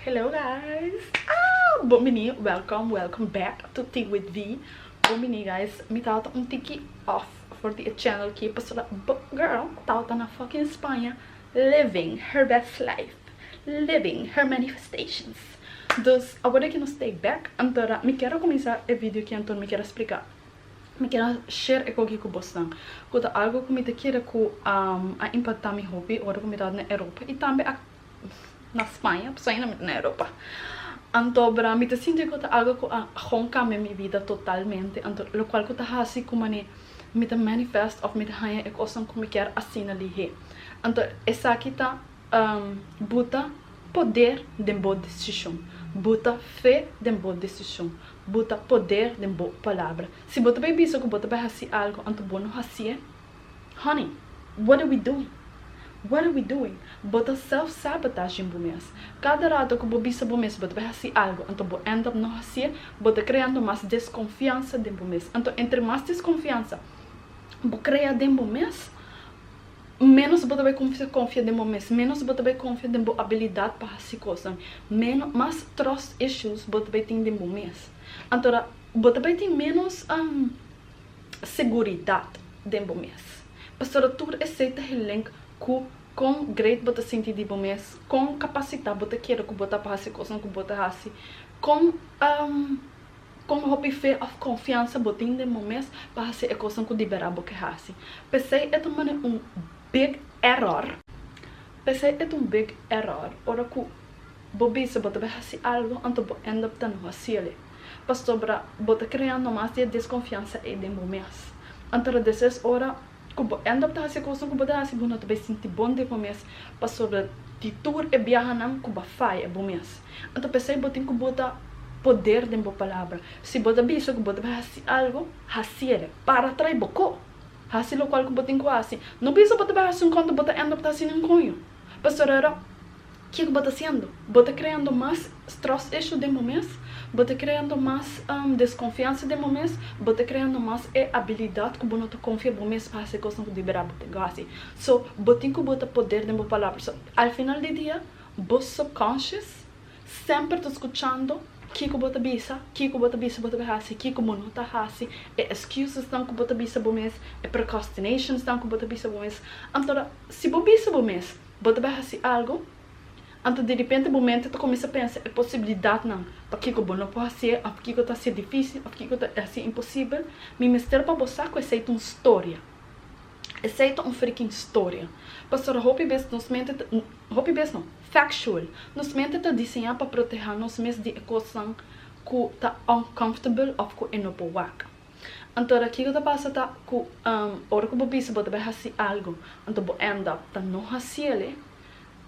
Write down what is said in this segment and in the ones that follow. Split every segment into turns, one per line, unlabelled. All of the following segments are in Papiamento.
Hello guys ah bon bini welcome welcome back to tea with vee bon bini guys mi tabata un tiki off for di e channel ki pasobra bo girl tabata na fucking Spaña living her best life living her manifestations dus awor deki nos take back antora mi kier a kuminsá e video ki anto mi kier a spliká mi kier a share ekoki ku bosnan ku ta algu ku mi ta kere ku a impactá mi hopi ora ku mi tabata na Europa i tambe a na Spaña pasobra ain mi ta na Europa anto bra mi ta sinti ku ta algo ku a gon kambia mi bida totalmente anto lokual ku ta hasi ku manera mi ta manifest òf mi ta haña e kosnan ku mi kier asina lihé anto esaki ta buta poder den bo desishon buta fe den bo desishon buta poder den bo palabra si bo ta bai bisa ku bo ta bai hasi algo anto bo no hasié. Honey, what are we doing? What are we doing? Bo ta self-sabotaging bo mes. Kada rato ku bo bisa bo mes bo ta bai hasi algu, anto bo end up no hasié, bo ta kreando mas deskonfiansa den bo mes. Anto entre mas deskonfiansa bo krea den bo mes, ménos bo ta bai kuminsá konfia den bo mes, ménos bo ta bai konfia den bo abilidat pa hasi kosnan, ménos, mas trust issues bo ta bai tin den bo mes. Anto bo ta bai tin ménos seguridat den bo mes. Pasobra tur esei ta gelenk ku kon gret bo ta sinti di bo mes, kon kapasitat bo ta kere ku bo ta pa hasi kosnan ku bo ta hasi, kon kon hopi fe òf konfiansa bo tin den bo mes pa hasi e kosnan ku di bera bo ke hasi. P'esei e ta manera un big error, p'esei e ta un big error ora ku. Bo bisa bo ta bai hasi algo anto bo end up ta no hasiele pasobra bo ta krea no mas di e deskonfiansa ei den bo mes. Anto ta desa es ora ku bo end up ta hasi e kosnan ku bo ta hasi bo no ta bai sinti bon den bo mes pasobra di tur e biahanan ku bo a faya bo mes. Anto p'esei bo tin ku bota poder den bo palabra. Si bo ta bisa ku bo ta bai hasi algo, hasiele. Para trai bo ko. Hasi lokual ku bo tin ku hasi. No bisa bo ta bai hasi un ko anto bo ta end up ta hasi ninkoño pasobra. Ke ku bo ta hasiendo? Bo ta kreando mas trust issue den bo mes? Bo ta kreando mas deskonfiansa den bo mes? Bo ta kreando mas e abilidat ku bo no ta konfia bo mes pa hasi e kosnan ku di bera bo tin ku hasi? So, bo tin ku bota poder den bo palabra. So, al final di dia, bo subconscious semper ta skuchando ke ku bo ta bisa, ke ku bo ta bisa bo ta bai hasi, ke ku bo no ta hasi, e excusesnan ku bo ta bisa bo mes, e procrastinations nan ku bo ta bisa bo mes. Anto, si bo bisa bo mes. Bo ta bai hasi algu? Anto di ripente bo mente ta kuminsá pensa e posibilidatnan, Pakiko bo no por hasié òf kiko ta hasié difísil òf kiko ta hasié imposibel? Mi mester pa bo sa ku esei ta un storia. Esei ta un frikin storia. Pasobra hopi bes nos mente ta, hopi bes no, factual, nos mente ta diseñá pa protehá nos mes di e kosnan ku ta uncomfortable òf ku e no por wak. Anto ora kiko ta pasa ta ku ora ku bo bisa bo ta bai hasi algu anto bo end up ta no hasiele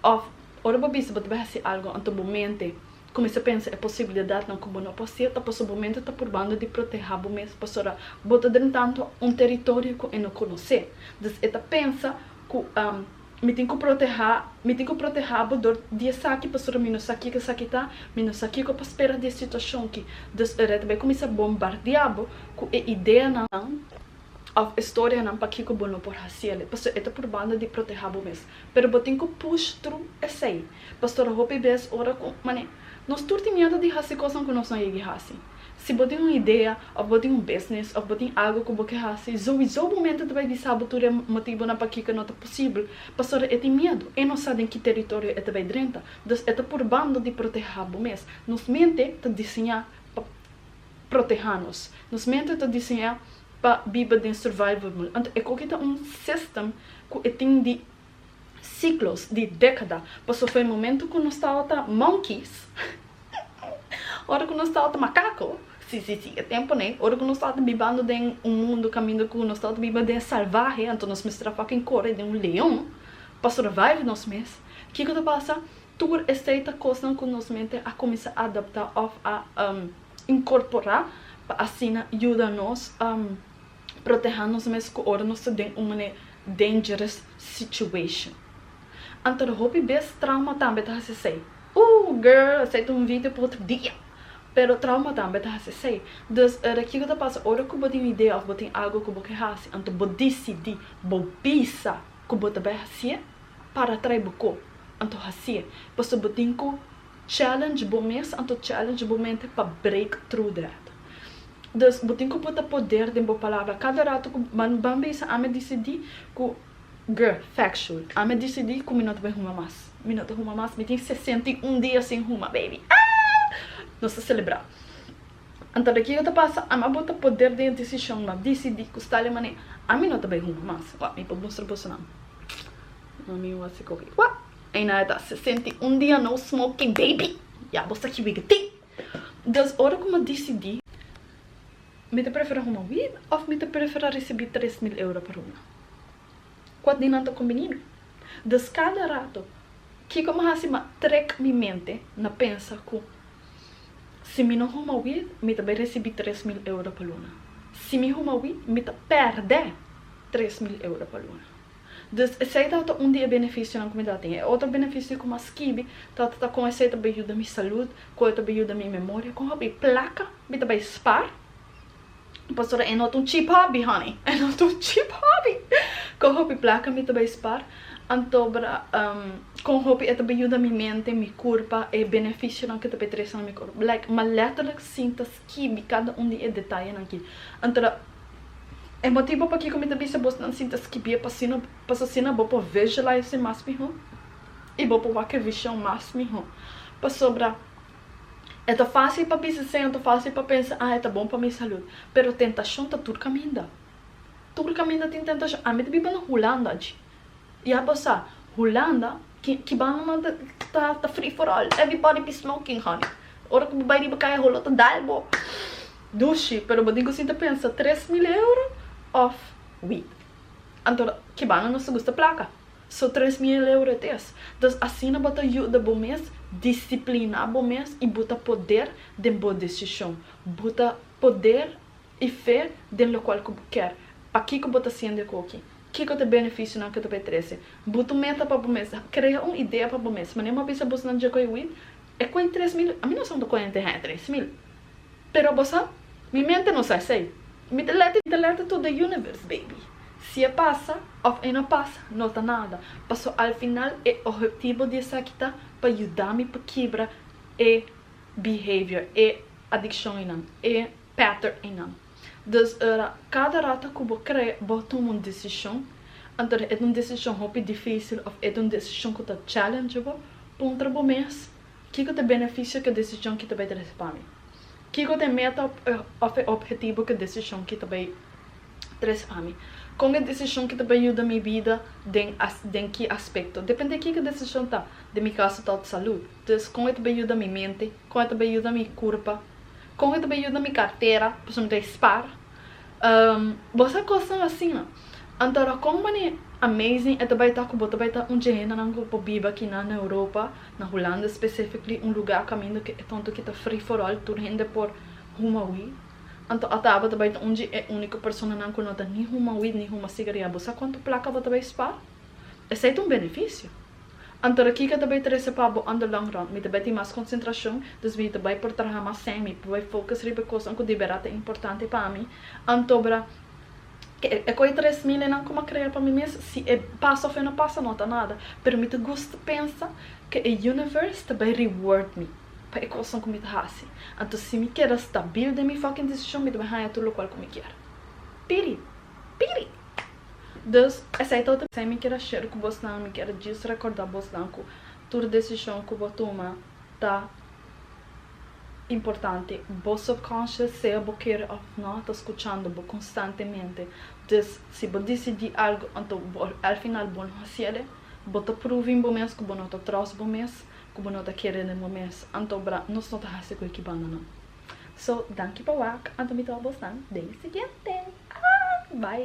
òf ora bo bisa bo ta bai hasi algu anto bo mente kuminsá pensa e posibilidatnan ku bo no por hasiel ta pasobra bo mente ta purbando di protehá bo mes pasobra bo ta drenta anto un teritorio ku e no konosé. Dus e ta pensa ku Mi tin ku protehá, mi tin ku protehá bo dor di esaki, pasobra mi no sa kico esaki ta, mi no sa kico pa spera di e situacion ki. Dus e rei ta bai kuminsá bombardiá bo ku e ideanan òf e storianan pakico bo no por hasi el, pasobra e ta purbando di protehá bo mes. Pero bo tin ku push tru esei, pastora hopi bes ora ku, mane, nos tur tin miedu di hasi kosnan ku nos no yegi hasi. Si bo tin un idea of bo tin un business of bo tin algo cu bo ke haci, zowizo bo mente ta bai bisa bo tur e motibonan pakiko no ta posibel, pasobra e tin miedu, e no sa den ki teritorio e ta bai drenta, dus e ta purbando di proteha bo mes. Nos mente ta diseña pa proteha nos, nos mente ta diseña pa biba den survival mode, anto e koki ta un system cu e tin di Siklos di dekada pasó f'e momentu ku nos tabata monkeys, ora ku nos tabata makako, si, si, si, e temponan, ora ku nos tabata bibando den un mundu kaminda ku nos tabata biba den salvahe, anto nos mester a fucking kore den un leon pa survive nos mes. Kiko ta pasa? Tur esei ta kosnan ku nos mente a kuminsá adaptá òf a inkorporá pa asina yuda nos proteha nos mes ku ora nos ta den un mane dangerous situation. Anto hopi bes trauma tambe ta hasi esei. Ooh girl esei ta un video pa otro dia. Pero trauma tambe ta hasi esei. Dus ora kiko ta pasa ora ku bo tin un idea of bo tin algo ku bo ke hasi anto bo disidi bo bisa ku bo ta bai hasi'e para trai bo ko anto hasi'e pasobra bo tin ku Challenge bo mes anto challenge bo mente pa break through that. Dus bo tin ku puta poder den bo palabra. Kada rato ku ban ban bisa ami a disidi ku gr. Factual ami a disidi ku mi no ta bai huma mas. Mi no ta huma mas. Mi tin sesenta i un dia sin huma baby aah! Nos ta selebrá. Anto de kiko ta pasa ami a bota poder den e desishon. Mi a disidi ku stale manera ami no ta bai huma mas. Wak mi por mustra boso nan. Mami mi wak si koki. Wak! Eina e ta sesenta i un dia no smoking baby ya bo sa ki wig e tin dus ora ku mi disidi mi ta prefera huma wig of mi ta prefera risibi tres mil euro pa ruma kua di nan ta kombini mi dus kada rato kiko mi hasi mi trek mi mente na pensa ku si mi no huma wig mi ta bai risibi tres mil euro pa luna si mi huma wig mi ta perde tres mil euro pa luna. Dus esei tabata un di e benefisionan ku mi tabata tin. E otro benefisio ku mas kibi tabata ta kon esei ta bai yuda mi salud, kon e ta bai yuda mi memoria, kon hopi plaka mi ta bai spar. Pastor, e no ta un cheap hobby honey, e no ta un cheap hobby. Kon hopi plaka mi ta bai spar, anto bra, kon hopi e ta bai yuda mi mente, mi kurpa, e benefisionan ku ta bai trese na mi kurpa. Like, ma letterlijk sinta. Kibi kada un di e detayenan ki. Anto, e motibu pakiko mi ta bisa bo nan sinta skibie pasino, pas asina bo por visualize mas mihó i bo por wak e vishon mas mihó. Pasobra e ta fásil pa bisa esei, anto fásil pa pensa, ah e ta bon pa mi salud. Pero tentashon ta tur kaminda. Tur kaminda tin tentashon. Ami ta biba na Hulanda dje. Ya bo sa Hulanda ki banda nan ta free for all everybody be smoking honey ora ku bo bai riba kaya holo ta dal bo dushi pero bo tin ku sinta pensa tres mil euro of weed anto ki banda nos ta gusta plaka so tres mil euro it is entonces asina bo ta yuda bo mes disiplina bo mes y bo ta poder den bo decision bo ta poder y fe den lokual ku bo kier pakiko bo ta haciendo e koki. Kiko ta e benefisionan ku ta por e trese? Bo ta meta pa bo mes. Krea un idea pa bo mes. Mane bo bisa bosnan dje koi wit? E koi tres mil? Ami no sa unda koi henter hei tres mil. Pero bo sa? Mi mente no sa esei. Mi ta lèt i ta lèt to the universe, baby. Si e pasa òf e no pasa, no ta nada. Paso al final e ohetibo di esaki ta pa yuda mi pa kibra e behavior, e adikshonnan, e. Peter Ingham. Dus ora kada rato ku bo krè bo tuma un desishon, anto e ta un desishon hopi difísil òf e ta un desishon ku ta challenge bo, puntra bo mes, Kiko ta e benefisio ku e desishon ki ta bai trese pa mi? Kiko ta e meta òf e obhetivo ku e desishon ki ta bai trese pa mi? Kon e desishon ki ta bai yuda mi bida den den ki aspekto? Depende kiko e desishon ta, den mi kaso ta òf salud, dus kon e ta bai yuda mi mente, kon e ta bai yuda mi kurpa, Con e ta bay yuda mi cartera pasobra mi ta e spar Bo sa cosnan asina Antora con manera amazing e ta bay ta cu bo ta bay ta un dje hendenan cu por biba aki nan na Europa na Hulanda specifically un lugar caminda cu e tonto aki ta free for all tur hende por huma weed Anto ata abo ta bay ta un dje e unico personanan cu no ta ni huma weed ni huma cigaria Bo sa cuanto placa bo ta bay spar? Esey ta un beneficio. Anto ra Kika ta bay trece pa bo on the long run, mi ta bay tin mas concentracion, dus mi ta bay por traha mas semi, pa bay focus riba e cosnan cu di bera ta importante pa mi, antobra ke e coe tres mil enan cu m'a crea pa mi mes, si e pasa of e no pasa no ta nada, pero mi ta gusta pensa ke e universe ta bay reward mi pa e cosnan cu mi ta haci, anto si mi keda stabil den mi fucking decision mi ta bay haya tur locual cu mi kier. Piri! Piri! Dus, esei ta otro. Esei mi kier a share ku bosnan, mi kier djis rekorda bosnan ku tur desishon ku bo tuma ta importante. Bo subconscious, sea bo kere òf nò, ta skuchando bo konstantemente. Dus, si bo disidí algu anto bo al final bo no hasi el, bo ta proving bo mes ku bo no ta tròst bo mes, ku bo no ta kere den bo mes. Anto bra, nos no ta hasi ku e ki banda nan. So, danki pa wak, anto mi ta òf bosnan den e siguiente. Bai!